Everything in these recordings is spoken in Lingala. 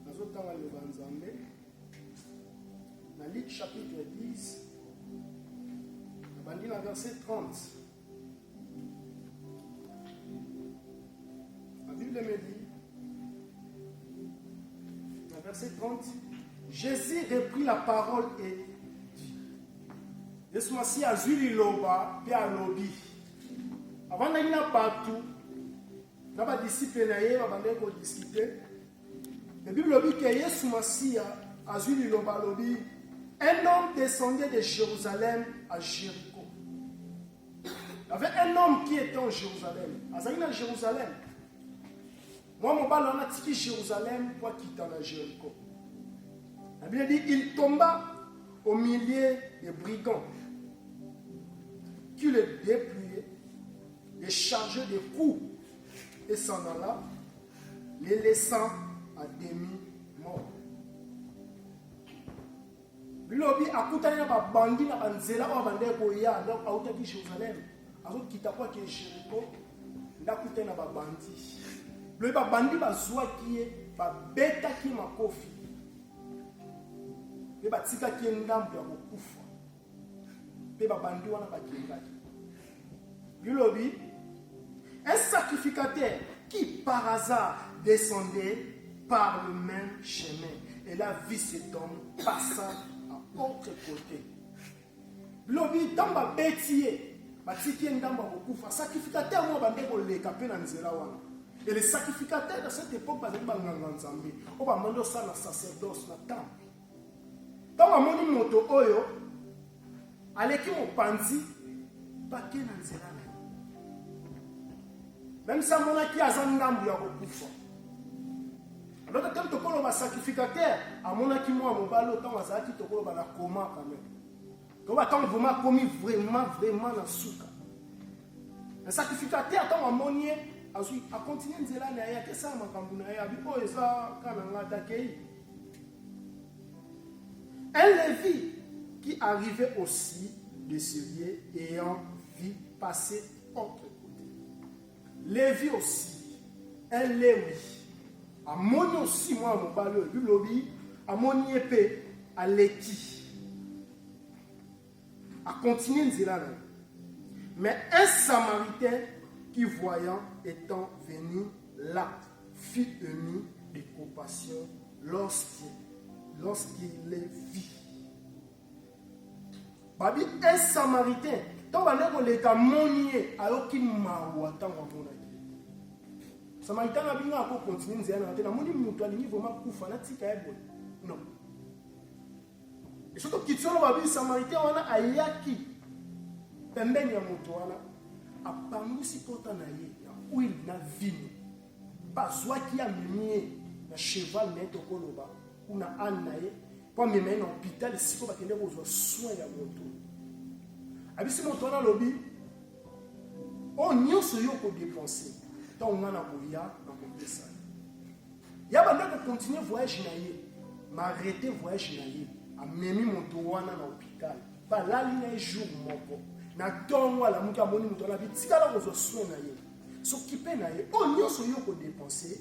nazotanga liloba nzambe na luk chapitre 10 nabandi na verset 30 la bible me dit na verset 30 jésus reprit la parole et Yesu Masiya azwi liloba mpe alobi. Avandaki na bato na badisiple na ye babandaki kodiskute. La Bible lobi ke Yesu Masiya azwi liloba alobi un homme descendait de Jérusalem à Jéricho. Il y avait un homme qui était en Jérusalem. Azali na Jérusalem. Moi, mon bal, on a tiki Jérusalem pour quitter la Jéricho. La Bible dit il tomba au milieu des brigands qui le dépouillaient, les chargeaient de coups et s'en alla, les laissant à demi-mort. bilobi akutani na babandi na banzela oyo bandeki koya donc autaki jérusalem azokita mpo ake jeriko ndakuta na babandi loye babandi bazwaki ye babetaki ye makofi mpe batikaki ye ndambo ya kokufa mpe babandi wana bakendaki bilobi un sacrificateur qui par hasard descendait par le même chemin et là vie cet homme passa à autre côté Lobi ntango babeti ye batiki ye ndambo ya kokufa sacrificateur moko bande koleka mpe na nzela wana et le sacrificateur de cette époque bazali banganga nzambe oyo bamoni osala na sacerdoce na temple ntango amoni moto oyo aleki mopanzi bake na nzela na ye meme si amonaki aza ndambo ya kokufa Loka ntango tokoloba sacrificateur amonaki mwa mobali oyo ntango azalaki tokoloba na koma quand même toba ntango vraimen akomi vraimen vraimen na suka na sacrificateur ntango amoni ye azwi akontinue nzela na ye akesala makambo na ye abi oyo eza ka na ngai atakei un levi qui arrivait aussi de ce lieu ayant vu passer entre Levi aussi, un Lewi, amoni aussi mwana mobali oyo bilobi, amoni ye mpe aleki, akontinue nzela na ye. Mais un Samaritain qui voyant étant venu là fut ému de compassion lorsqu'il lorsqu'il les vit. babi un samaritain ntango bande koleka amoni ye ayoki mawa ntango amonaki samaritain na bino ako continue nzela na te namoni moto alingi vrema kufa natika ye boye non esoki okiti wana babi samaritain wana ayaki pembeni ya moto wana apangusi pota na ye ya huile na vino bazwaki ya mimie na cheval na ye tokoloba kuna ane na ye mpo amema ye na hopital esiko bakende kozwa soin ya moto abisi moto wana alobi oyo oh, nyonso yo okodepense ntango ngai na koya na kopesa ya banda kokontinue voyage na ye marete voyage na ye amemi moto wana na hopital balali na ye jour moko na ntongo alamuki amoni moto wana abitikala kozwa soin na ye sokipe na ye oyo oh, nyonso yo okodepense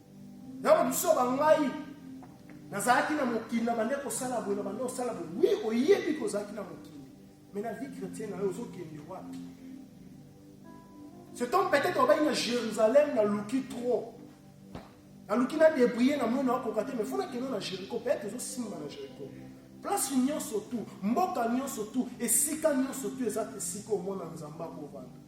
Yango biso ba ngai nazalaki na mokili na bande kosala boye na bande kosala boye wi oyebi kozalaki na mokili mais na vie chrétien na yo ozokende wapi cet homme peut-être obaki na jérusalem naluki trop naluki na débrouille na moi nakoka te mais fo nakende na jéricho peut-être ezosimba na jéricho place nyonso tu mboka nyonso tu esika nyonso tu eza esika omona nzambe akovanda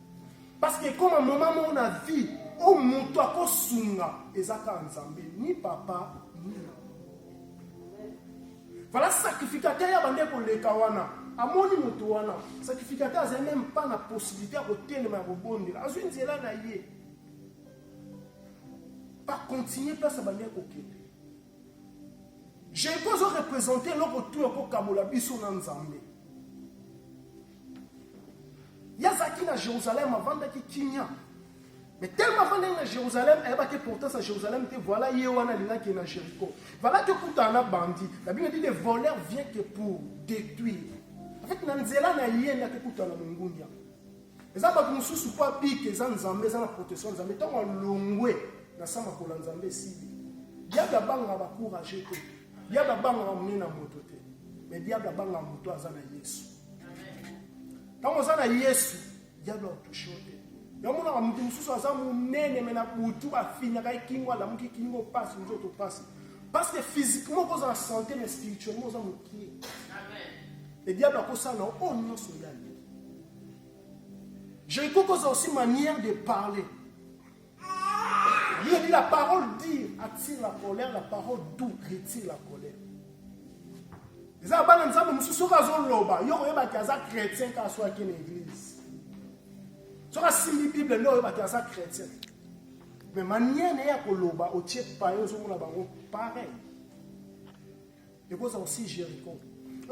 Parce que comme un moment mon avis, au mutu akosunga ezaka nzambe ni papa ni voilà sacrificateur ya bande koleka wana amoni moto wana sacrificateur azali meme pas na possibilité ya kotelema ya kobondela azwi nzela na ye bakontinue place abandi kokende jeko azo represente eloko tu ekokabola biso na nzambe Ye azalaki na Jerusalem, avandaki kimia. Mais tellement avandaki na Jerusalem, ayebaki importance ya Jerusalem te, voilà ye wana alingaki ye na Jericho. Valaki okutana na bandi. La Bible dit le voleur vient que pour détruire. En fait, na nzela na ye nde akokutana na mongundia. Eza bato mosusu mpo abika eza Nzambe, eza na protection ya Nzambe. Ntango alongwe na sama kola Nzambe esili. Diable abangaka ba courage te. Diable abangaka monene na moto te. Mais diable abangaka moto aza na Yesu. ntango oza na yesu diable akotushe yo te yamonaka moto mosusu aza monene me na butu bafinaka ekingo alamuki kingo mpasi nzoto mpasi parce que physiquement okoza na santé mais spirituellement oza mokie le diable akosala na oyo nyonso ya alingi jeriko koza aussi manière de parler Bible dit la parole dure attire la colère, la parole douce retire la colère. eza bana nzambe mosusu soki azoloba yo koyebaki aza chrétien kaka soki ake na église soki asimbi bible nde oyebaki aza chrétien mais manière na ye ya koloba otie paye ozomona bango pareil Ekozala aussi Jericho.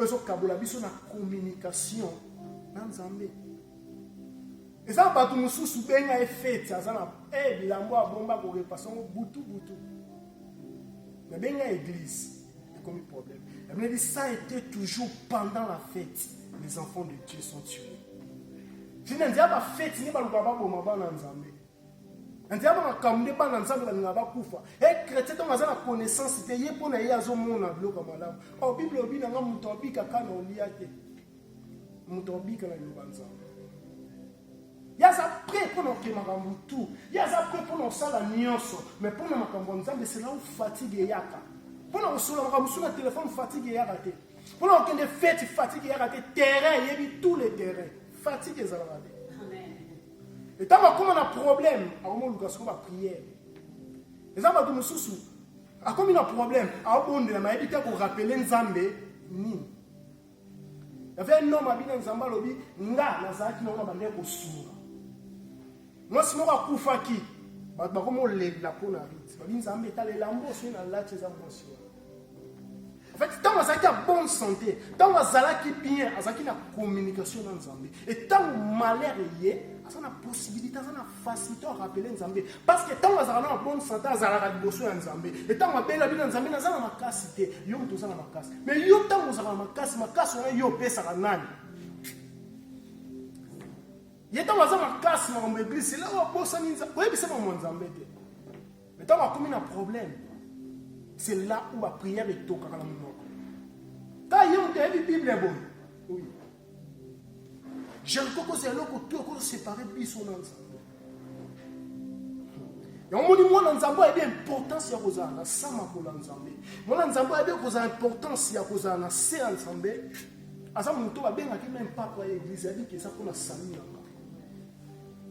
Ezo kabola biso na communication na Nzambe. Eza bato mosusu benga ye fete aza na eh, bilambo abomba korepasa yango butu butu. Mais benga église ekomi problème. La Bible dit ça était toujours pendant la fête les enfants de Dieu sont tués. Jina nzia ba fete ni baluka baboma bana Nzambe. nzambe makambo nde bana nzambe balinga bakufa e eh, chrétien ntango aza na connaissance te ye mpo na ye azomona biloko ya malamu o oh, bible obi nanga moto abika ka na olia te moto abika na liloba nzambe ye aza prêt mpo na oke makambo tu ye aza prêt mpo na osala nyonso mais mpo na makambo ya nzambe selau fatigue eyaka mpo na kosolola makambo mosusu na telefone fatigue eyaka te mpo na kokende feti fatigue eyaka te terrain eyebi tous les terrain fatigue ezalaka te etango akoma na problème akomoluka soko bapriere eza bato mosusu akomi na problème abondela mayebi te akorapele nzambe nini yave un homme abina nzambe alobi nga nazalaki nango na bandee kosunga mwasi moko akufaki bato bakomi olela mpo na rite babi nzambe etalela mbo soki nalati eza mwasi wana ntango azalaki ya bonne santé ntango azalaki bien azalaki na communication na nzambe e ntango malheur eye aza na possibilité aza na facilité ya rappele nzambe parce que ntango azalaka na bonne santé azalaka liboso ya nzambe e ntango abela bino nzambe naza na makasi te yo moto oza na makasi mais yo ntango ozalaka na makasi makasi wana yo opesaka nani ye ntango aza makasi makambo eglise ela oyo abosani oyebisa makambo ya nzambe te Mais ntango akomi na problème c'est là où ba prière etokaka na monoko ta ye moto ayebi bible boye oui jeriko kozala eloko tu okozo séparé biso na nzambe yango moni mwana nzambe ayebi importance ya kozala na sa makolo ya nzambe mwana nzambe ayebi kozala importance ya kozala na se ya nzambe aza moto babengaki meme papa ya eglise abiki eza mpona sami yanga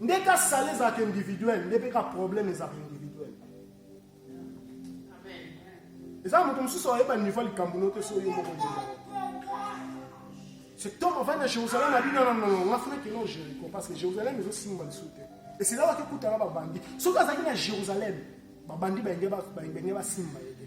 nde ka sale ezalaka individuel nde mpe ka problème ezalaka individuel eza moto mosusu ayeba niveau ya likambo no te so yo moko ndenge cet homme avandi na jérusalem abi nana nono nga funa kino jéricho parce que jérusalem ezosimba lisu te esila waki ekutana babandi soki azalaki na jérusalem babandi baenge basimba ye te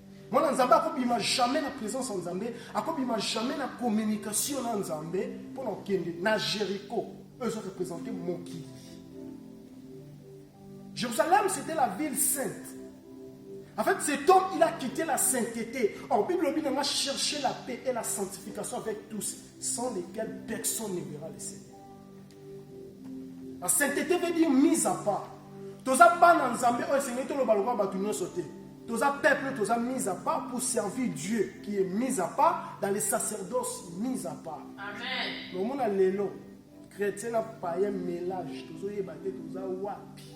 Mwana Nzambe akobima jamais na présence ya Nzambe, akobima jamais na communication na Nzambe mpo na kokende na Jericho. Eux ezo représenter mokili. Jérusalem, c'était la ville sainte. En fait, cet homme, il a quitté la sainteté. Or, Bible dit on a cherché la paix et la sanctification avec tous, sans lesquels personne ne verra le Seigneur. La sainteté veut dire mise à part. Toza bana Nzambe oyo esengeli toloba lokola bato nyonso te. Toza peuple, toza mise à part pour servir Dieu qui est mise à part dans les sacerdoces mise à part. Amen. Nomona lelo chrétien na païen mélange tozoyeba te toza wapi.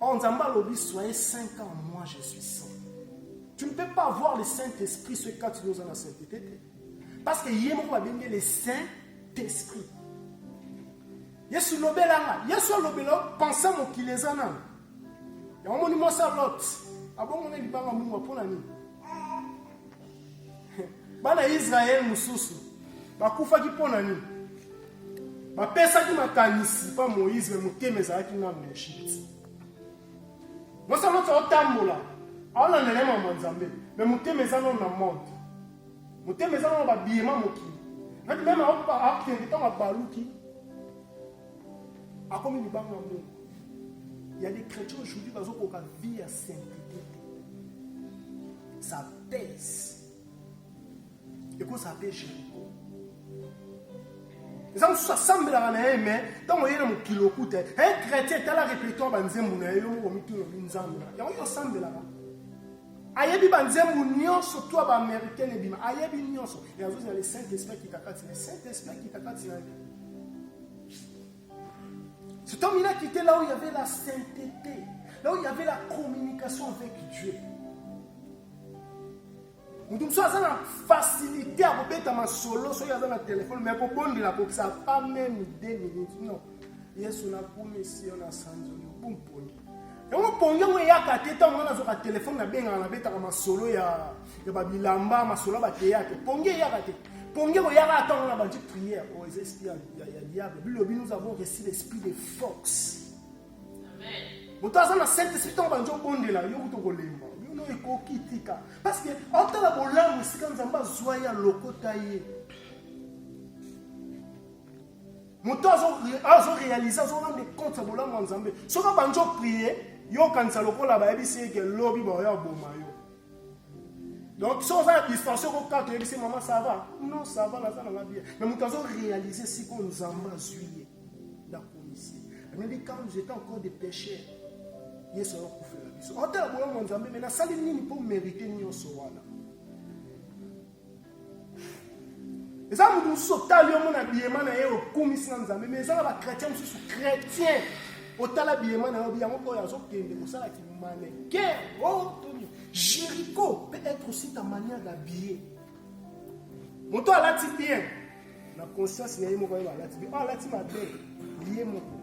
Oh, Nzambe alobi, soyez saint car moi je suis saint. Tu ne peux pas voir le Saint-Esprit ce cas tu nous en as sainteté. Parce que ye moko babenge le Saint-Esprit. Yesu lobela nga, Yesu alobela pensa mokili eza nanu. Yango moni mwasi ya Lot, abongo na libanga mungwa mpo na nini? Bana ya Israele mosusu bakufaki mpo na nini? Bapesaki makanisi mpa Moïse me motema ezalaki nano na Egypte. Mwasi aloti aotambola aolandela ye mama Nzambe me motema eza nano na monde, motema eza nano babiyema mokili nati meme akende ntango abaluki akomi libanga mungu ya des chrétiens aujourd'hui bazokoka vie ya simplicité thèse ekozala mpe jericho eza mosusu asambelaka na ye me ntango ye na mokili okuta un chrétien tala répertoire banzembo na ye yo moko mituna bi nzambe na yango yo osambelaka ayebi banzembo nyonso to ya baaméricaine ebima ayebi nyonso e azozala le saint esprit akita kati na saint esprit akita kati na ye Cet homme, il a quitté là où il y avait la sainteté, là où il y avait la communication avec Dieu. moto mosusu aza na facilité ya kobeta masolo soki aza na telefone mai kobondela akokisa pas meme 2 minutes non yesu nakumisi yo na sanzoli yo bumponi yango pongi yango eyaka te ntango nga nazwaka telefone nabengaka nabetaka masolo ya ya babilamba masolo ya bateyatre pongi eyaka te pongi ekoyaka ata ngo na bandi prière oyo oh, eza esprit ya diable bilobi nous avons reçu l'esprit de fox moto aza na saint esprit ntango bandi obondela yo kutu okolemba bino ekoki tika parce que aotala bolamu esika nzambe azwa ye alokota ye moto azo réalise azo rendre compte ya bolamu ya nzambe soki abandi oprie yokanisa lokola bayebisi ye ke lobi baoya oboma yo donc so oza na distraction kokaka toyebisi mama sava non sava naza nanga bien mais moto azo réalise siko nzambe azwi ye nakomisi anabi quand j'étais encore de pécheur yesu ayokufela biso otala bolamu ya nzambe me nasali nini mpo merite nyonso wana eza moto mosusu otali yo mona biyema na ye okumisi na nzambe mais eza na bachrétien mosusu chrétien otala biyema na yo biyango oyo azokende kosala kimaneke otoni oh, jericho peut être aussi ta manière d'habiller moto alati bien na conscience na ye moko ayeba alati bien oyo oh, alati mabe ye moko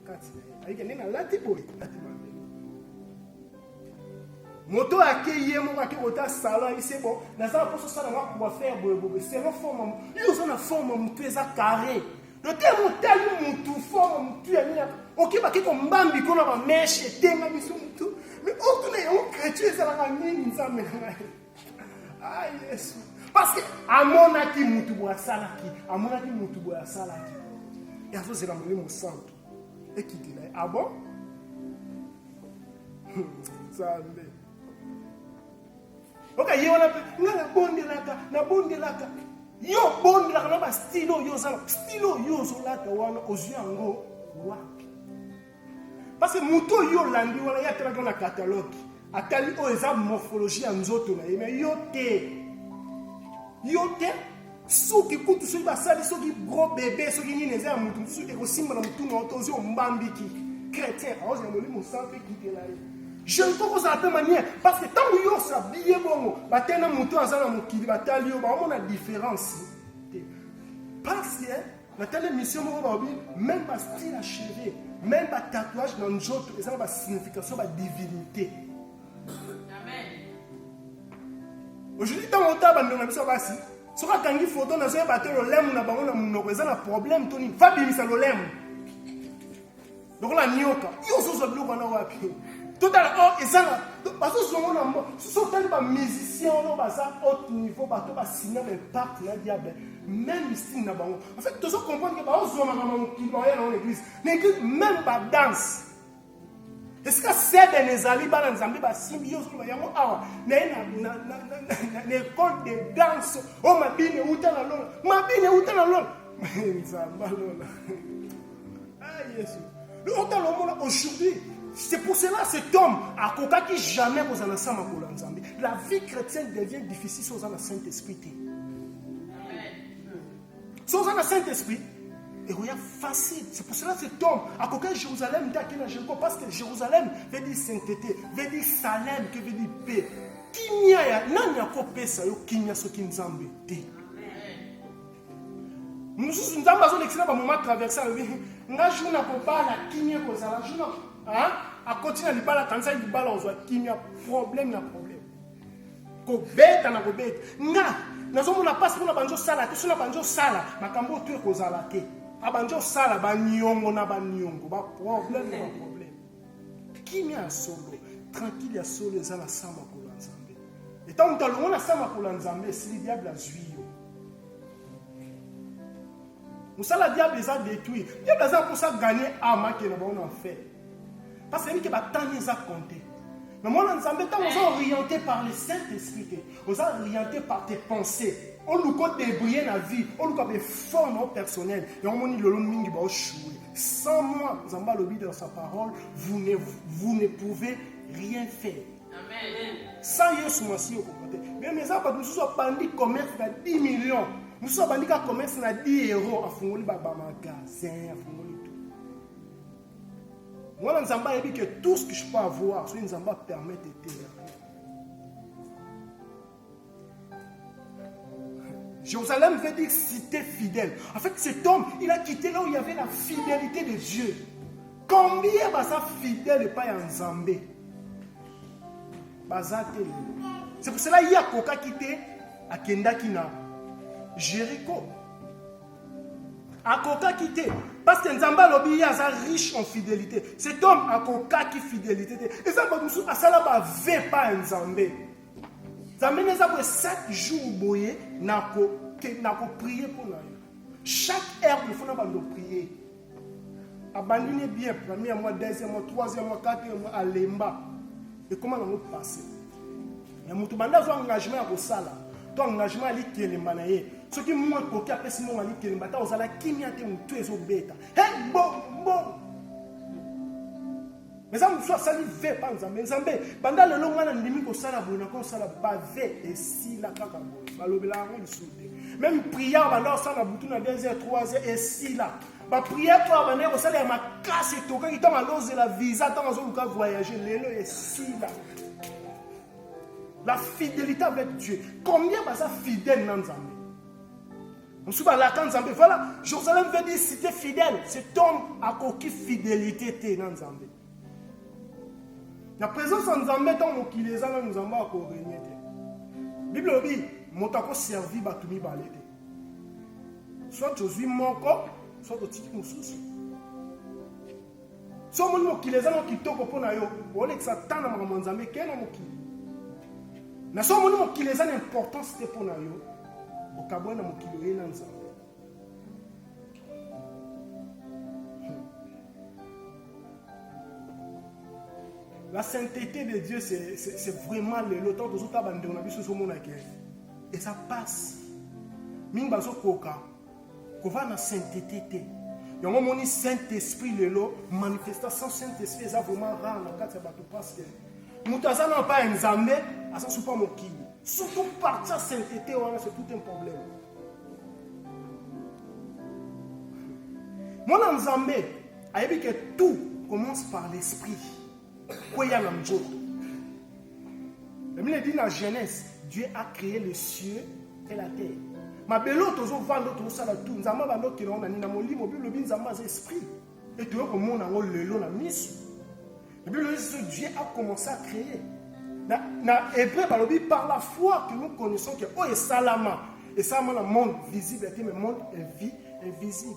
kati na ye ayike ndenge alati boye alati mabe moto oyo akei ye moko ake kota salon ayebi se bo naza naposo osala mwa coiffer boyebobe selon forme yo oza na forme motu eza carré lotemo otali motu forme motu ya nini okebaki kombambi kona bameshe etenga biso motu me otuna yango kretio ezalaka nini nzambe na ngai ah yesu parce que amonaki motu boye asalaki amonaki motu boye asalaki yazozela molimo santu ekitela ye ah bon nzambe oka ye wana mpe nga nabondelaka nabondelaka yo obondelaka na bastilo oyo ozala stilo oyo ozolata wana ozwi yango wapi parce que moto oyo olandi wana ye atalaka na catalogue atali oyo eza morphologie ya nzoto na ye me yo te yo te suki kutu soki basali soki gros bebe soki nini eza ya moto mosusu ekosimba na motuna oto ozwi ombambiki chrétien aozi na molimo santu mpe kite na ye jeune koko ozala mpe maniere parce que ntango yo osala biye bongo batei na moto oyo aza na mokili batali yo baomona différence te parce que natali émission moko baobi même bastyle ya cheve même batatouage na nzoto eza na basignification badivinité ojudi ntango otala bandeko na biso basi soki akangi foto nazoyeba te lolemu na bango na monoko eza na problème to nini fabimisa lolemu lokola nioka yo ozozwa biloko wana wapi totala o oh, eza na bazozongo na mbo soso otali bamusicien wana baza haute niveau bato basina baimpacte na diable même style na bango en fait tozo comprendre ke baozwamaka mamokili baoya nango na église na église même badanse esika seben ezali bana nzambe basimbi yo ozoloba yango awa naye na ekole de danse o oh, mabine uta na lola mabine uta na lola nzambe lola ah, yesu ota lomona aujourd'hui c'est pour cela cet homme akokaki jamais kozala sa makolo ya nzambe la vie chrétienne devient difficile si oza na saint esprit te Si oza na saint esprit ekoya facile c'est pour cela cet homme akoka jérusalem nde ake na jericho parce que jérusalem veut dire sainteté veut dire salem que veut dire paix kimia ya nani akopesa yo kimia soki nzambe te mosusu nzambe azolekisa na bamoma traverse alobi nga jour na kobala kimia ekozala jour akoti na libala kanisa libala ozwa kimia problème na problème kobeta na kobeta nga nazomona mpasi mpona banzi osala te sona banzi osala makambo oyo tu ekozala te abanzi osala baniongo na baniongo baproblème na baproblème kimia ya solo tranquille ya solo eza na sa makolo ya nzambe etango moto alongo na sa makolo ya nzambe esili diable azwi yo mosala diable eza détruire diable aza mposa gagne ame akende bango na enfer parce que yebike batani eza compte mais mwana nzambe ntango oza orienté par le saint esprit te oza orienté par tes pensées oluka odebrille na vie oluka beforme o personnel yango omoni lelo mingi baoshue sans moi nzambe alobi dans sa parole vous ne, vous ne pouvez rien faire sans yesu masiya okokoka te meme eza bato mosusu abandi commerce na 10 million mosusu abandi ka commerce na 10 euro afungoli babamagasin afungoli tout mwana nzambe ayebi ke tout ce que je peux avoir soki nzambe apermettre eteya Jérusalem veut dire cité fidèle. En fait, cet homme, il a quitté là où il y avait la fidélité de Dieu. Combien baza fidèle epai ya Nzambe? Baza te. C'est pour cela ye akokaki te akendaki na Jéricho. Akokaki te parce que Nzambe alobi ye aza riche en fidélité. Cet homme akokaki fidélité te. Eza bato mosusu asala bave epai ya Nzambe. nzambe naza boye 7 jour boye nakoprie mpo na yo chaque heure il faut na bando prie abandi ne bien premier mois deuxième mois troisième mois quatrième mois alemba ekoma nango passe ya moto banda azwa engagement ya kosala to engagement alikelemba na ye soki mwa ekoki apesi mongo alikelemba ata ozala kimia te motu ezobeta he mbongo mbongo eza mosusu asali ve mpa nzambe nzambe banda lelo ngai nandimi kosala boye nakosala bave esila kaka boye balobela yango lisusu te meme priere banda kosala na butu na 2 heures 3 heures esila bapriere oyo abandaki kosala ya makasi etokaki ntango alozela visa ntango azoluka voyage lelo esila la fidélité avec dieu combien baza fidèle na nzambe mosusu balaka nzambe voilà jérusalem veut dire cité fidèle cet homme akoki fidélité te na nzambe na présence ya nzambe ntango mokili eza nano nzambe akorenie te bible elobi moto akoservi bato mibale te soit tozwi moko soit totiki mosusu so omoni mokili eza mwa kitoko mpo na yo olekisa temps na makambo ya nzambe kee na mokili na so omoni mokili eza na importance te mpo na yo okabwa na mokili oye na nzambe la sainteté de dieu c'est vraiment lelo ntango tozotala bandeko na biso ezomonake eza mpasi mingi bazokoka kovanda na saintete te yango omoni saint esprit lelo manifestation saint esprit eza vraiment rare na kati ya bato parce que moto aza na epai ya nzambe aza supa mokili surtout partir saintete wana c'est tout un problème mwana nzambe ayebi ke tout commence par l'esprit kweya na nzoto La Bible dit la Genèse, Dieu a créé les cieux et la terre. mabele oyo tozovanda tozosala tu nzambe abandokela ngo na nini na molimo bible lobi nzambe aza esprit e toyo komona yango lelo na miso bible lobi ce dieu a commencé à créer na, na hébreu balobi par la foi que nous connaissons que oyo esalama esalama na monde visible te mais monde invisible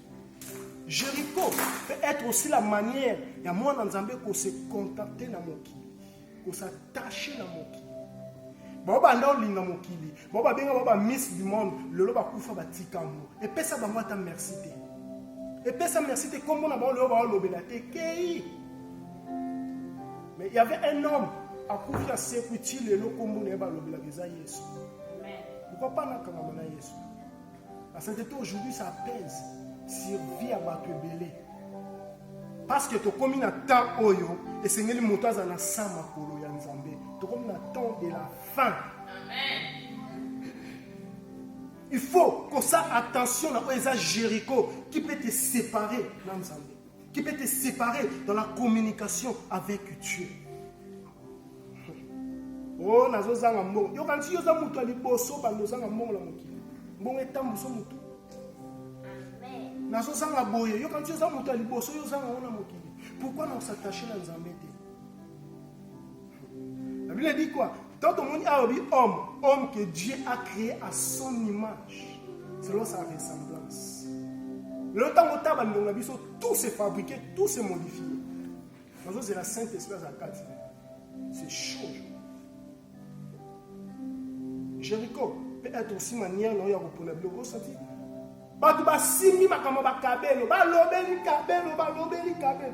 Jericho peut être aussi la manière ya mwana nzambe ko se contenter na mokili ko s'attacher na mokili bao banda olinga mokili bao babenga bao ba miss du monde lelo bakufa batika yango epesa bango ata merci te epesa merci te nkombo na bango lelo baolobela te kei mais il y avait un homme akufi asekwi ti lelo nkombo na ye balobelaka eza yesu pourquoi pas nakangama na yesu La sainteté aujourd'hui ça pèse sur vie ya bato ebele parce que tokomi na temps oyo esengeli moto azala na sa makolo ya nzambe tokomi na temps de la fin il faut kosa attention na oyo eza jericho qui peut te séparer na nzambe qui peut te séparer dans la communication avec Dieu. Oh, nazozanga mbongo. Yo kanti yoza mutu ya liboso bando ozanga mbongo na mokili. Mbongo etambuso mutu. Amen. Nazozanga boye. Yo kanti yoza mutu ya liboso yo ozanga na mokili. Pourquoi na s'attacher na Nzambe te? La Bible dit quoi Donc tomoni awa bi homme, homme que Dieu a créé à son image, selon sa ressemblance. Lelo ntango ta bandongo na biso tout se fabriquer, tout se modifier. Nazozela Saint Esprit aza kati. C'est chaud. Jéricho peut être aussi manière na oyo ya kopona biloko osati bato basimbi makambo bakabelo balobeli kabelo balobeli kabelo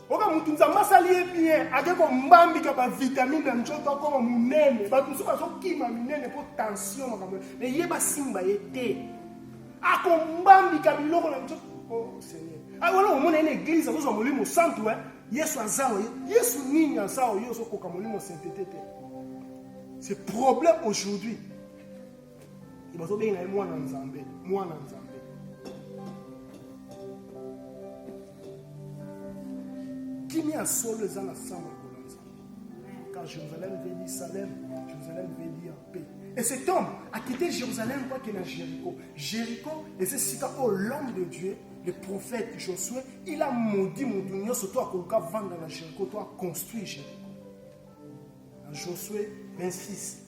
oka mutu nzambe asali ye bien ake kombambika bavitamine na nzoto akoma monene bato mosusu bazokima minene mpo tension makambo me ye basimba ye te akombambika biloko na nzoto o oh, seigneur ah, wana omona ye na eglize azozwa molimo santu e yesu aza oye yesu nini aza oye ozokoka molimo saintete te c'est problème aujourd'hui bazobenga ye mwana nzambe mwana nzambe kimia ya solo eza na sango lokola nzambe car jérusalem veut dire salem jérusalem veut dire paix et cet homme a quitté jérusalem mpo akende na jéricho jéricho eza esika oyo l'homme de dieu le prophète josué il a maudit moto nyonso to akoluka vanda na jéricho to aconstruire jéricho na josué 26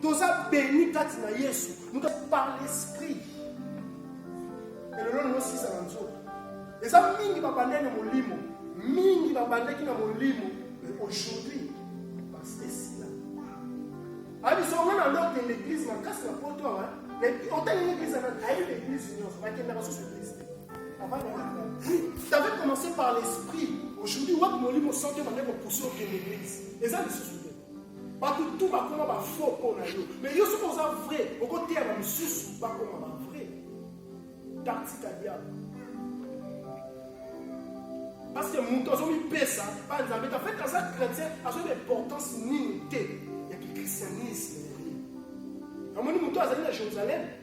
toza beni kati na yesu nous par l'esprit elelo nilosisa na nzoto eza mingi babandaki na molimo mingi babandaki na molimo mais aujourd'hui basi esila abiso nga na loke na église makasi na poto awa otali église ana ayebi na église nyonso bakendaka susu église te t'avais commencé par l'esprit aujourd'hui wapi molimo soki obandaki kopusi okende église eza lisusu bato tu bakoma bafo mpo na yo me yo soki oza vrai okoteya na mosusu bakoma bavrai taktika diable parce que moto azomipesa ba nzambe ta fait aza chrétien azoyeba importance nini te ya kikristianisme namoni moto azali na jérusalem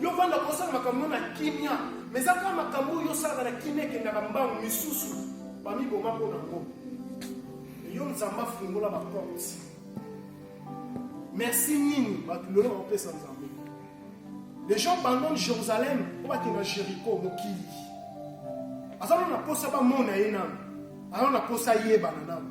yo vanda kosala makambo na kimia ma eza kaka makambo oyo osalaka na kimia ekendaka mbango misusu bamiboma mpo na ngo yo nzambe afungola baporte merci nini bato lelo bakopesa nzambe les gens bandone jérusalem mpo bakenda jericho mokili aza nano na mposa bamona ye nano aza nano na mposa ayebana nano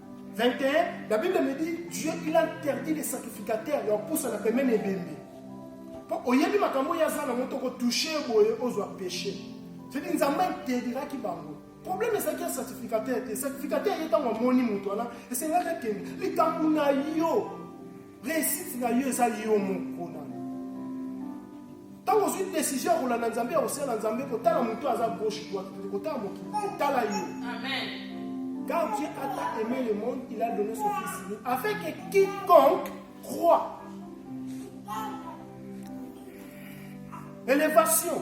21, la Bible me dit, Dieu, il interdit les sacrificateurs, leur pousse à la pemene et bembe. Pour oyebi makambo ya zana moto ko toucher boye ozo péché. C'est dit nzamba interdira ki bango. Problème c'est qu'il y a sacrificateur, sacrificateur est en moni moto là, et c'est là que likambo na yo Réussite na yo eza yo moko na. Tango ozui décision ya kolanda Nzambe ya kosala Nzambe kotala moto aza gauche droite te kotala mokili otala yo. Amen. Car Dieu a tant aimé le monde, il a donné son fils unique afin que quiconque croit. Élévation.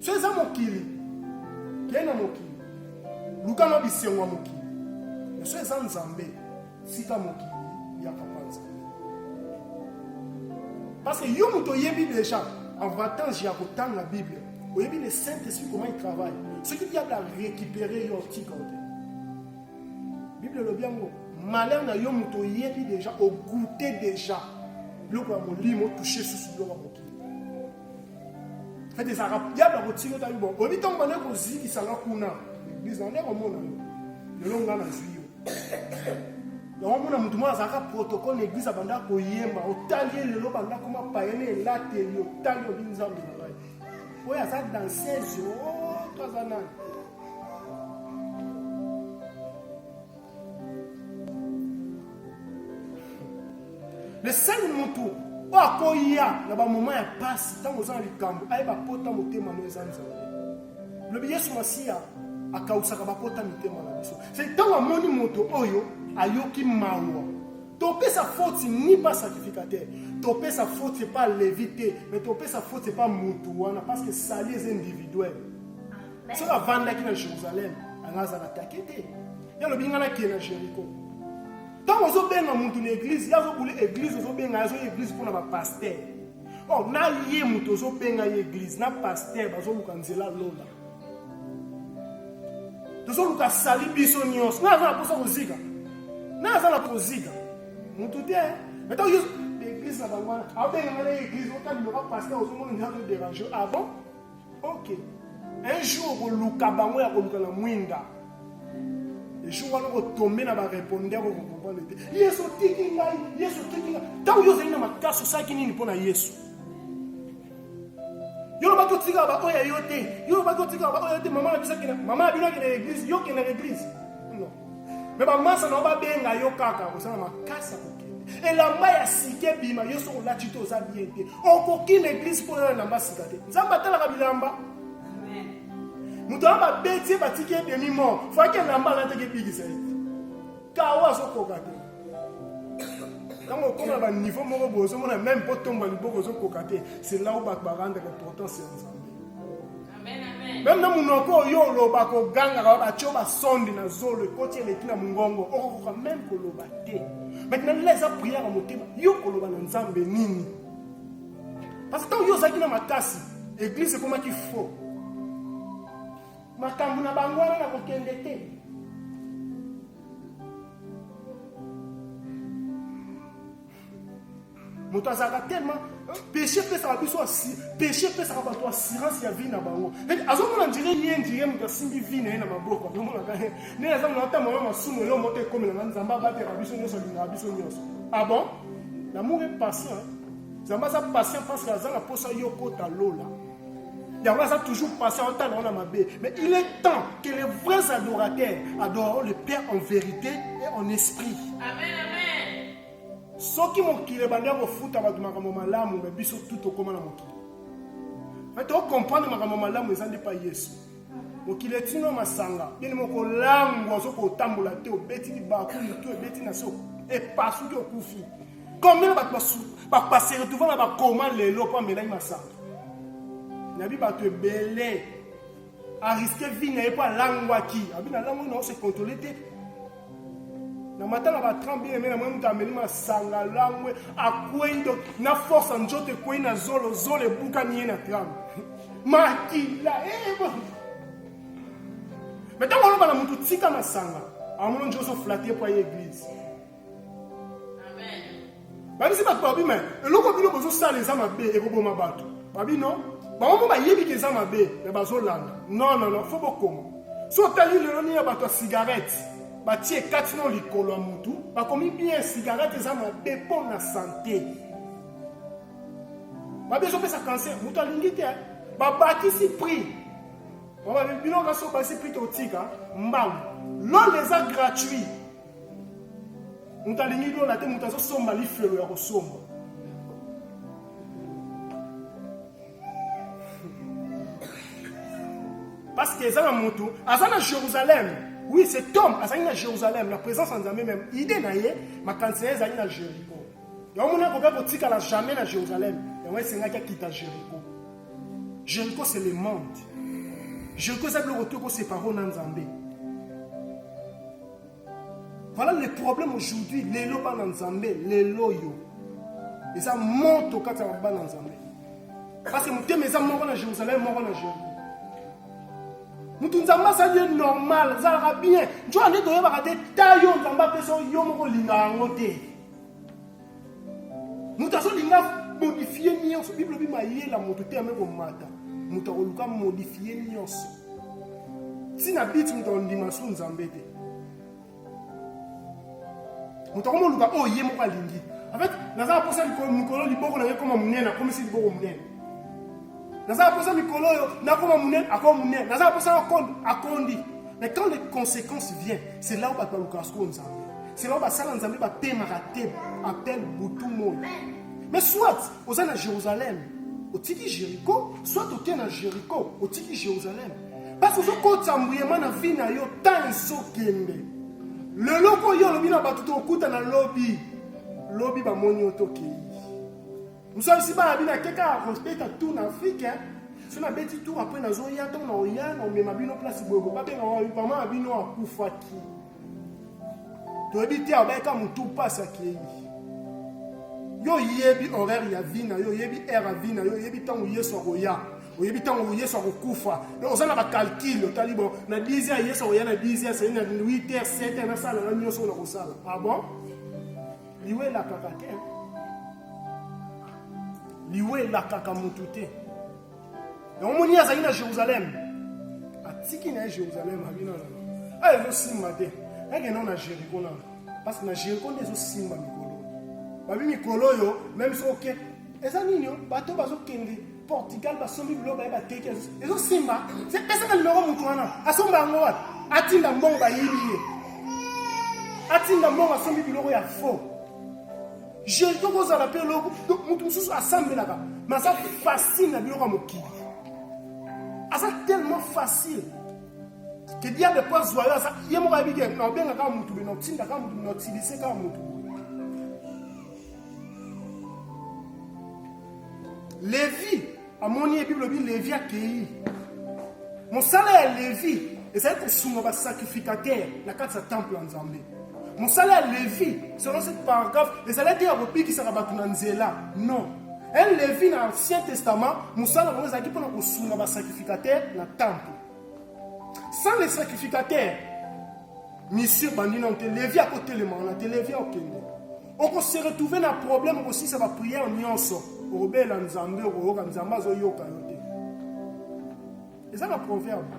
so eza mokili kei na mokili luka na bisengo ya mokili na so eza nzambe tika mokili ya papa nzambe parce que yo moto oyebi déjà avantage ya kotanga bible oyebi le saint esprit comment il travaille soki diable arécupéré yo otika te bible elobi yango malheur na yo moto oyebi déjà ogoute déjà biloko ya molimo touche susu biloko ya mokili ete ezalaka diable akotika otali bo oyebi ntango banda kozikisanga kuna eglise nande komona yo lelo nga nazwi yo yango mona motu moko azalaka protocole na eglise abanda koyemba otali ye lelo banda koma payene elateli otali obi nzambe na ngai oyo aza danseuse oto oh, aza nani le seul mutu oyo akoya na bamoma ya mpasi ntango oza na likambo ayeba pota motema no eza nzambe lobi yesu masiya akausaka bapota mitema na biso se ntango amoni moto oyo ayoki mawa topesa foti ni ba sacrificateur topesa foti epa levi te mais topesa foti epa motu wana parce que sali eza individuel soki avandaki na jérusalem anga aza na take te ye alobi ngai nakie na jéricho ntango ozobenga motu na eglize ye azobuli eglize ozobenga ye azoya eglize mpo na bapaster o oh, na ye motu ozobenga ye eglize na paster bazoluka nzela lola tozoluka sali biso nyonso ngai aza na mposa kozika ngai aza na kozika motu te meto eglize na bango wana abenga ngai na ye eglize otandiloka paster ozomona nzela toderange ah bon Ok. Un jour okoluka bango ya koluka na mwinda. Jour wana okotombe na barepondeur okokomprendre te. Yesu otiki ngai, Yesu otiki ngai. Ntango yo ozali na makasi osalaki nini mpo na Yesu? yo lobaki otikaka baoyo ya yo te yo lobaki otikaka baoyo ya yo te mama na biso mama na bino akende na eglise yo okende na eglise me bamasa na yo babenga yo kaka oza na makasi ya kokende elamba ya sika ebima yo soki olati te oza bien te okoki na eglise mpo na elamba sika te nzambe atalaka bilamba moto wana babeti ye batiki ye demi mort faki elamba alataki ebikisa ye kawa azokoka te ntango okoma na baniveau moko boye ozomona meme mpo tomba liboko ozokoka te c'est là où bato barandaka importance ya nzambe meme na munoko oyo oloba kogangaka batyo basonde na zolo ekoti eleki na mongongo okokoka meme koloba te maintenant lela eza priere ya motema yo koloba na nzambe nini parce que ntango yo ozalaki na makasi eglise ekomaki faux makambo na bango wana na kokende te moto azalaka tellement péché epesaka biso péché epesaka bato assurance ya vie na bango azomona ndire ye ndire moto asimbi vie na ye na maboko azomonaka ye nde aza mona ata mama masumu elo moto ekomela na nzambe abatela biso nyonso alingaka biso nyonso ah bon lamour est patient nzambe aza patient parce que aza na mposa yo kota lola yango aza toujours patient otala wana mabe mais il est temps que les vrais adorateurs adoreront le père en vérité et en esprit amen, amen. soki mokili ebandi ya kofuta bato makambo malamu me biso tu tokóma na mokili me tokomprendre makambo malamu eza nde pa yesu mokili etino masanga bini mokolangwa soki otambola te obeti libaku mitu ebeti na so epasuki okufi combien bato bapase retrouva na bakoma lelo mpo amelaki masanga nabi bato ebele a risque vie na ye mpo alangwaki abi nalangwaki na ose controle te na mata na batran bien aime na mwa moto ameli masanga langwe akwei donc na force ya nzoto ekwei na zolo zolo ebukani ye na tram makila eh, eh, me ntango oloba na moto tika masanga amona nzoso flate mpo aye eglise babisi bato babi me eloko bino bozosala eza mabe ekoboma bato babi no bango mpo bayebi ke eza mabe me bazolanda non non non fo bokoma so otali lelo nini ya bato ya cigarette batie kati no likolo ya motu bakomi bien cigarette eza mabe mpo na sante babi ezopesa cancer moto alingi te babakisi prix bino kasi obakisi prix totika mbangu lole eza gratuit moto alingi lola te moto azosomba lifelo ya kosomba parce que eza na motu aza na jérusalem oui cet homme azali na jérusalem na présence ya nzambe meme idée na ye makanisi na ye ezali na jéricho yango mona akoka kotikala jamais na jérusalem yango esengaki akita jéricho jéricho c'est le monde jéricho eza biloko to ekoseparo na nzambe Voilà le problème aujourd'hui, lelo bana nzambe, lelo yo. Eza moto kati ya bana nzambe. Parce que motema eza moko na Jérusalem, moko na Jérusalem. moto nzambe asali ye normal ezalaka bien nzoka nde toyebaka te ta yo nzambe apesa yo moko olinga yango te moto azolinga modifie nyonso biblia bi mayela moto te ame komata moto akoluka modifie nyonso ntina biti moto akondima su nzambe te moto akomoluka oyo ye moko alingi en fait naza na mposa mikolo liboko na ye ekoma monene akomisi liboko monene naza na posa mikolo oyo nakoma monene akoma monene naza na posa akondi akondi mais quand les conséquences vient c'est là où bato balukaka sikoyo nzambe c'est là où basala nzambe bapemaka te appel butu moi mais soit oza na jérusalem otiki jéricho soit oke na jéricho otiki jérusalem parce que ozokotisa mbuyema na vie na yo temps esokende lelo ko yo olobi na bato tokutana lobi lobi bamoni yo tokei Mzalisi bana bino ake kaka kobeta tour na afrike eh. so nabeti tour apres nazoya ntango na oya na omema bino place boye bobabenga wa mama na bino akufaki toyebi te abayeka motu mpasi akei yo oyebi horaire ya vi na yo oyebi aire ya vi na yo oyebi ntango yesu akoya oyebi ntango yesu akokufa oza na bacalcule otali bon na 10 heures yesu akoya na 10 heures sei na 8 heures 7 heures nasala na nyonso oyo nakosala ah bon liwa elakaka te liwa elakaka motu te yango moni azali na jérusalem atiki na ye jérusalem abino nano ayo ezosimba te akendao na jericho nano parce que na jericho nde ezosimba mikolo babi mikolo oyo meme soki oke eza nini bato bazokende Portugal basombi biloko baye bateki ezosimba pesa na nimero moto wana asomba yango wapi atinda mbongo bayibi ye atinda mbongo asombi biloko ya faux jeune to kozala mpe eloko moto mosusu asambelaka me aza facile na biloko ya mokili aza tellement facile ke diable mpo azwa yo aza ye moko ayebike naobenga kaka motu be naotinda kaka motu be naotilise kaka motu Levi amoni ye, Bible elobi Levi akei. Mosala ya Levi ezali kosunga basacrificatere na kati ya temple ya Nzambe. Mosala ya Levi selon ce paragraphe ezali te ya kobikisaka bato na nzela non un Levi na Ancien Testament mosala yango ezalaki mpo na kosunga basacrificatere na temple sans les sacrificateurs misie ebandi nano te levi akotelema wana te levi akokende oko se retrouver na problème okosilisa ba prière nyonso okobela nzambe okoyoka nzambe azoyoka yo te eza na proverbe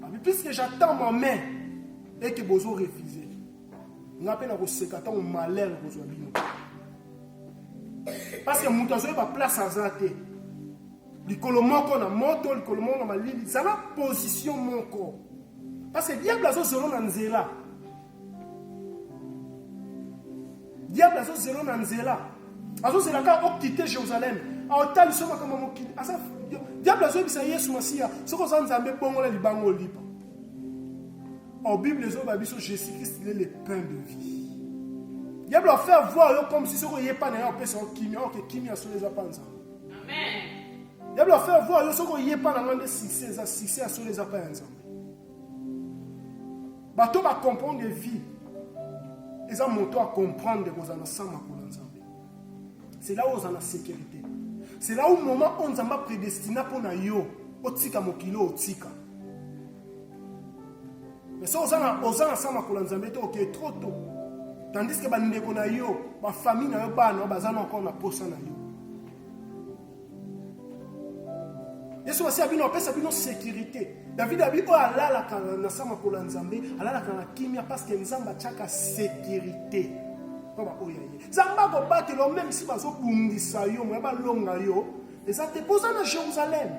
abi puisque j'attends ma main eke bozo refuse nga mpe nakoseka ntango malere kozwa bino parce que moto azoyeba place aza te likolo moko na moto likolo moko na malili zala position moko parce que diable azozolo na nzela diable azozela na nzela azozela kaka okite jerusalem aotalisa makambo ya mokili aza diable azoyebisa yesu masiya soki oza nzambe bongola libanga olipa or bible ezoyeba biso jésus christ le le pain de vie diable afaire voir yo comme si soki oye pa na ye opesa yo kimia oke kimia solo eza pa nzambe diable afaire voir yo soki oye pa na ngai nde succès eza succès ya solo eza pa ya nzambe bato ba comprendre vie eza moto a comprendre kozala na sans makolo ya nzambe c'est là où oza na sécurité c'est là où moment oyo nzambe apredestina mpo na yo otika mokili oyo otika mais so oza na oza na sans makolo ya nzambe te okei trop tôt tandis ke bandeko na yo bafamille na yo bana baza na encore na mposa na yo yesu masiya bino apesa bino sécurité david abi oyo alalaka na sa makolo ya nzambe alalaka na kimia parce que nzambe atyaka sécurité mpo baoyo ya ye nzambe akobatela meme si bazobundisa yo moya balonga yo eza te mpo oza na jérusalem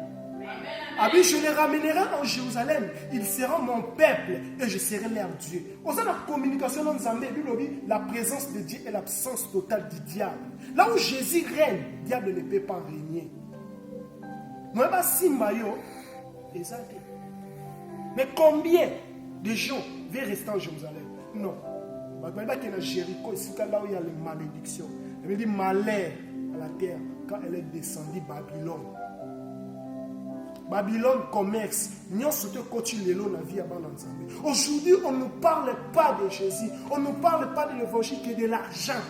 abi je les ramènerai en jérusalem ils seront mon peuple et je serai leur dieu Oza na communication na Nzambe, Bible lobi la présence de Dieu est l'absence totale du diable. Là où Jésus règne, diable ne peut pas régner. Moi ba simba yo eza te. Mais combien de gens veulent rester en Jérusalem Non. Bato bayebaki na Jéricho esika là où il y a les malédictions. Elle dit malheur à la terre quand elle est descendue Babylone. Babylone commerce, nyonso te coach lelo na vie ya bana nzambe. Aujourd'hui, on ne parle pas de Jésus, on ne parle pas de l'évangile que de l'argent.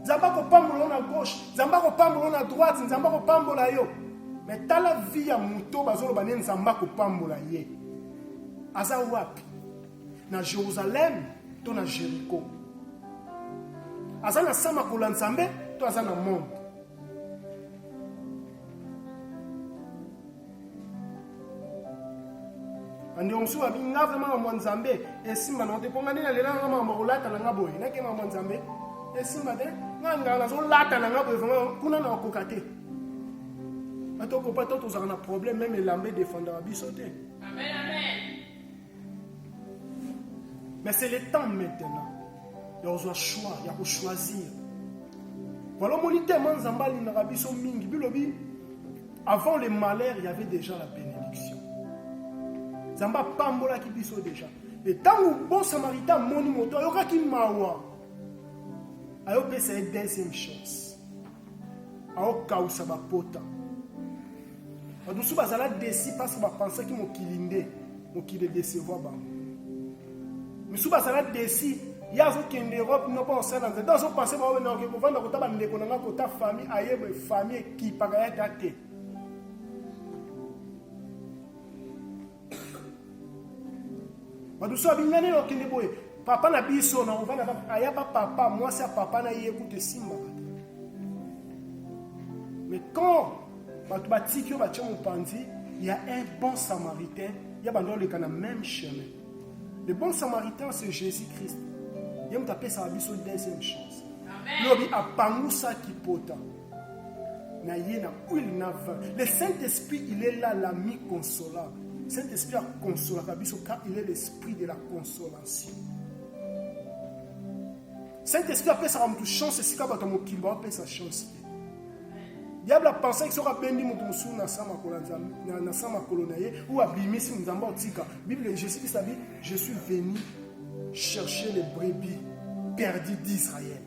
Nzambe akopambola yo na gauche, Nzambe akopambola yo na droite, Nzambe akopambola yo. Mais tala vie ya moto bazoloba nde Nzambe akopambola ye. Aza wapi? na Jerusalem to na Jericho. Aza na sama kola Nzambe to aza na monde. bandeko mosusu babi nga vraimen mambo ya nzambe esimba nango te mpo nga nde nalela nanga mambo kolata na nga boye nake mambo ya nzambe esimba te nga nganga nazolata na nga boye vraimen kuna na okoka te atokopa to tozalaka na problème meme elamba edefendaka biso te amen, amen. Mais c'est le temps maintenant. Ya kozwa choix, ya ko choisir. Voilà mon item hein, Nzambe alingaka biso mingi. Bilobi avant le malheur, il y avait déjà la bénédiction. Nzambe apambolaki biso déjà. Et ntango bon samaritain amoni moto ayokaki mawa ayopesa ye deuxième chance aokausa bapota bato mosusu bazala desi parce bapensaki mokili nde mokili edecevoir bango misusu bazala desi ye azokende europe noko osala nzete azopense bao na oke kovanda kota bandeko na ngai kota famille ayebe famille ekipaka ya ta te badusu abingani okende boye papa na biso na ovanda aya ba papa mwasi ya papa na ye kutu esimbaka te mais quand bato batiki yo batye mopanzi ya un bon samaritain ya bando oleka na même chemin le bon samaritain c'est jésus christ ye moto apesaka biso deuxième chance lobi apangusaki pota na ye na huile na vin le saint esprit il est là l'ami consolable saint esprit akonsolaka biso car il est l'esprit de la consolation saint esprit apesaka motu chance esika bato ya mokili baopesa chance te diable apensaki soki abendi moto mosusu na sa makolo na sa makolo na ye ou abimisi nzambe otika bible jésus christ abi je suis venu chercher les brebis perdu d'israël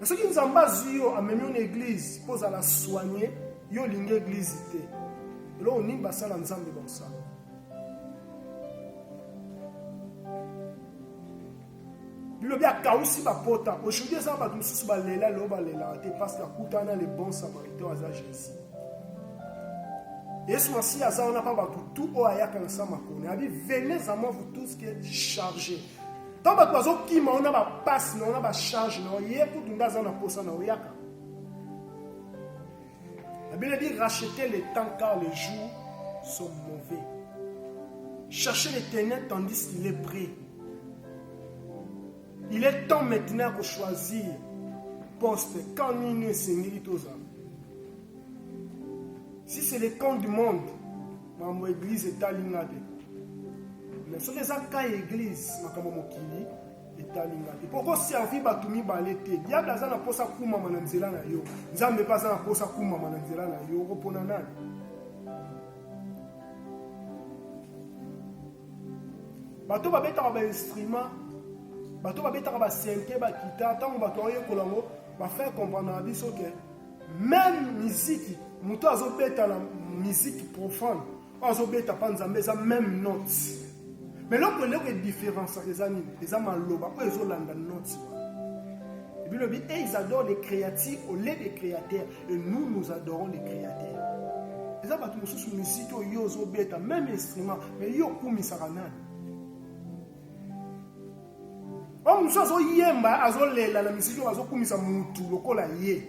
Mais soki Nzambe azwi yo amemi yo na eglise mpo ozala soigne yo olingi eglise te eloko nini basala Nzambe bakosala bilobi akausi bapota aujourd'hui eza bato mosusu balela lelo balelaka te parce que akutana na le bon samaritain aza jésus yesu masiya aza wana mpa bato tu oyo ayaka na sa makoni abi venez à moi vous tous qui êtes chargés ntango bato bazokima yo na bapasi na yo na bacharge na yo ye kutu nde aza na mposa na oyaka la bible dit racheter le temps car les jours sont mauvais chercher les ténèbres tandis qu'il est prêt il est temps maintenant ya kochoisir poste camp nini esengeli tozala si c'est le camp du monde Mambo église etali nga te. Mais soki eza ka église makambo mokili etali nga te. Poko servir bato mibale te. Diable aza na posa kumama na nzela na yo. Nzambe pe aza na posa kumama na nzela na yo. Okopona nani? bato babetaka bainstrument bato babetaka basente bakita ntango bato baoyekola yango bafai comprendre na biso ke meme miziki moto azobeta na miziki profane oyo azobeta mpa nzambe eza meme note me eloko eloko edifférenciaka eza nini eza maloba oyo ezolanda note bilobi et ils adorent les créatures au lieu des créateurs et nous nous adorons les créateurs eza bato mosusu miziki oyo yo ozobeta meme instrument me yo okumisaka nani oyo oh, mosusu azoyemba azolela na misiki oyo azokumisa mutu lokola ye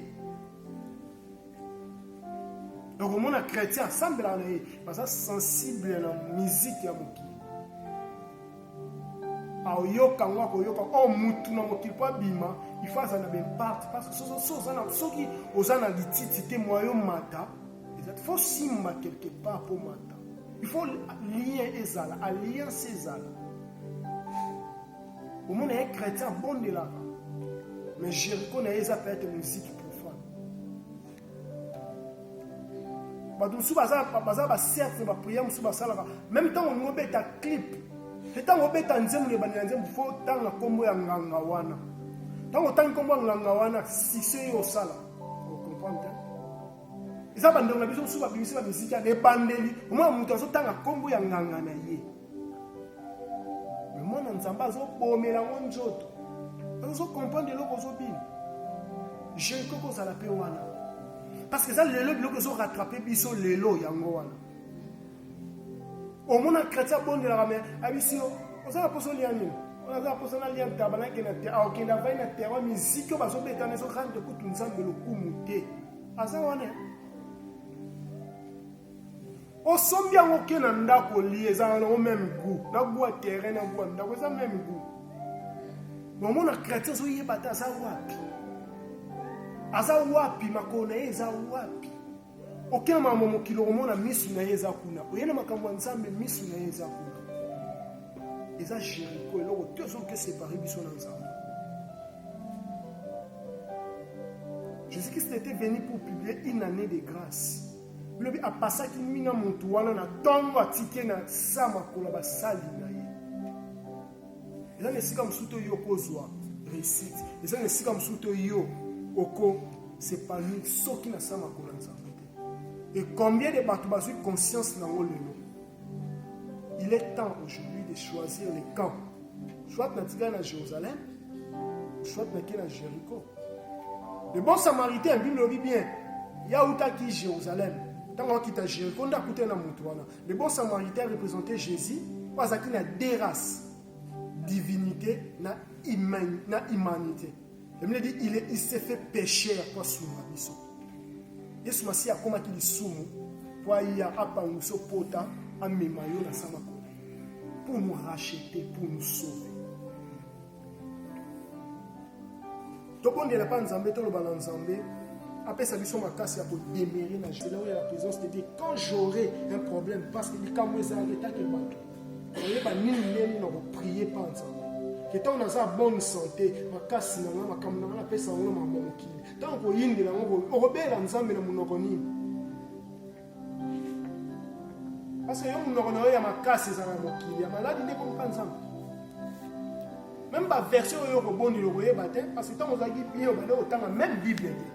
okomona chrétien asambelaka na ye baza sensible na miziki ya mokili aoyoka yango akoyoka o oh, mutu na mokili mpo abima ifo azala na baimparte soki oza na lititi te mwayo mata fo simba quelque part mpo mata ifo lien ezala alliance ezala omona ye chrétien abondelaka mais jericho na ye eza peut-être musique profane bato mosusu baza bacercle baprière mosusu basalaka meme ntango olingi obeta clip te ntango obeta nzembo na ebandela nzembo fo otanga nkombo ya nganga wana ntango otangi nkombo ya nganga wana sise yo osala okomprendre eza bandeko na biso mosusu babimisi bamiziki ya ebandeli omona moto azotanga nkombo ya nganga na ye mais mwana nzambe azobomela yango nzoto ozo comprendre eloko ozobina je ekoki kozala mpe wana parce que eza lelo biloko ezo rattrape biso lelo yango wana omona chrétien abondelaka me abisi yo oza na poso olia nini oza na poso nalia ntaba nakenda te akokende ah, avai na terrain miziki oyo bazobetana ezorande kutu nzambe lokumu te aza wana osombi yango oke na ndako olie ezalaka nango meme gout na gout ya terrain na gout ya ndako eza meme gout nomona chrétien azoyeba te aza wapi aza wapi makolo na ye eza wapi oke na makambo mokili okomona misu na ye eza kuna oye na makambo ya nzambe misu na ye eza kuna eza jeriko eloko te ozoke separe biso na nzambe jésus christ était venu pour publier une année de grâce Lobi apasaki mina moto wana na ntongo atiki ye na sa makolo ya basali na ye. Eza na esika mosusu to yo okozwa resite, eza na esika mosusu to yo oko sepanir soki na sa makolo ya Nzambe te. E combien de bato bazwi conscience na yango lelo? Il est temps aujourd'hui de choisir les camps. Soit natika na Jérusalem, soit nake na Jéricho. Le bon samaritain, Bible lobi bien, ya utaki Jérusalem. Tango akita Jéricho, nda kuta na mutu wana. Le bon samaritain représentait Jésus, azaki na deux races, divinité na, humain, na humanité. Biblia dit il, est, il s'est fait pécheur mpo asunga biso. Yesu Masiya akomaki lisumu mpo aya apangusa opota amema yo na sama kona pour nous racheter, pour nous sauver. tobondela mpa nzambe toloba na nzambe apesa biso makasi ya kodemere na jela oyo ya présence de dieu quand j'aurai un problème parce que likambo ezalaka etake bato oyeba nini ndenge na koprie mpa nzambe ke ntango naza bonne santé makasi na ngai makambo na ngai napesa yango na makambo ya mokili ntango koyindela yango okobela nzambe na monoko nini parce yo monoko na yo ya makasi ezala mokili ya maladi nde kompa nzambe meme baversion oyo okobondela okoyeba te parce ntango ozalaki bien obande kotanga meme bible te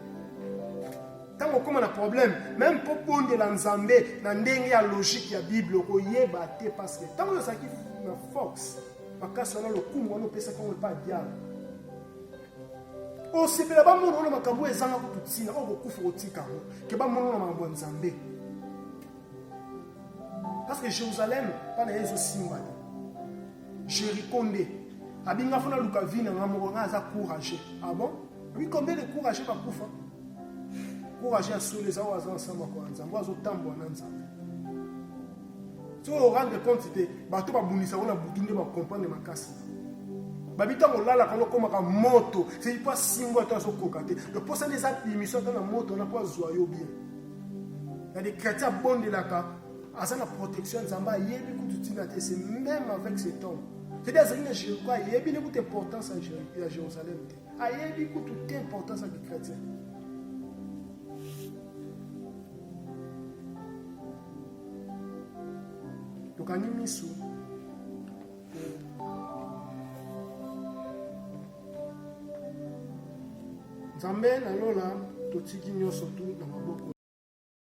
ntango okoma na problème meme mpo bondela nzambe na ndenge ya logique ya bible okoyeba te parce que ntango oyo ozalaki na force makasi wana lokumu wana opesaki yango epa diable osepela bamona wana makambo oyo ezanga kutu ntina oyo kokufa kotika yango ke bamona wana makambo ya nzambe parce que jérusalem mpa na ye ezosimba te jericho nde abinga fo naluka vi na ngai moko ngai aza courage ah bon obi combien de courage bakufa courage ya solo eza oyo aza ensemble kwa nzambe azotambwa na nzambe so orendre compte te bato babundisa ngo na butu nde bakomprendre makasi babi ntango olalaka lokomaka moto seki mpo asimbo ata azokoka te donc mposa nde eza bimisio ata na moto wana mpo azwa yo bien na de chrétien abondelaka aza na protection nzambe ayebi kutu ntina te c'est même avec cet homme cedi azali na jericho ayebi ne kutu importance ya jérusalem te ayebi kutu te importance ya bikretien tokangi misu nzambe na lola totiki nyonso tu na maboko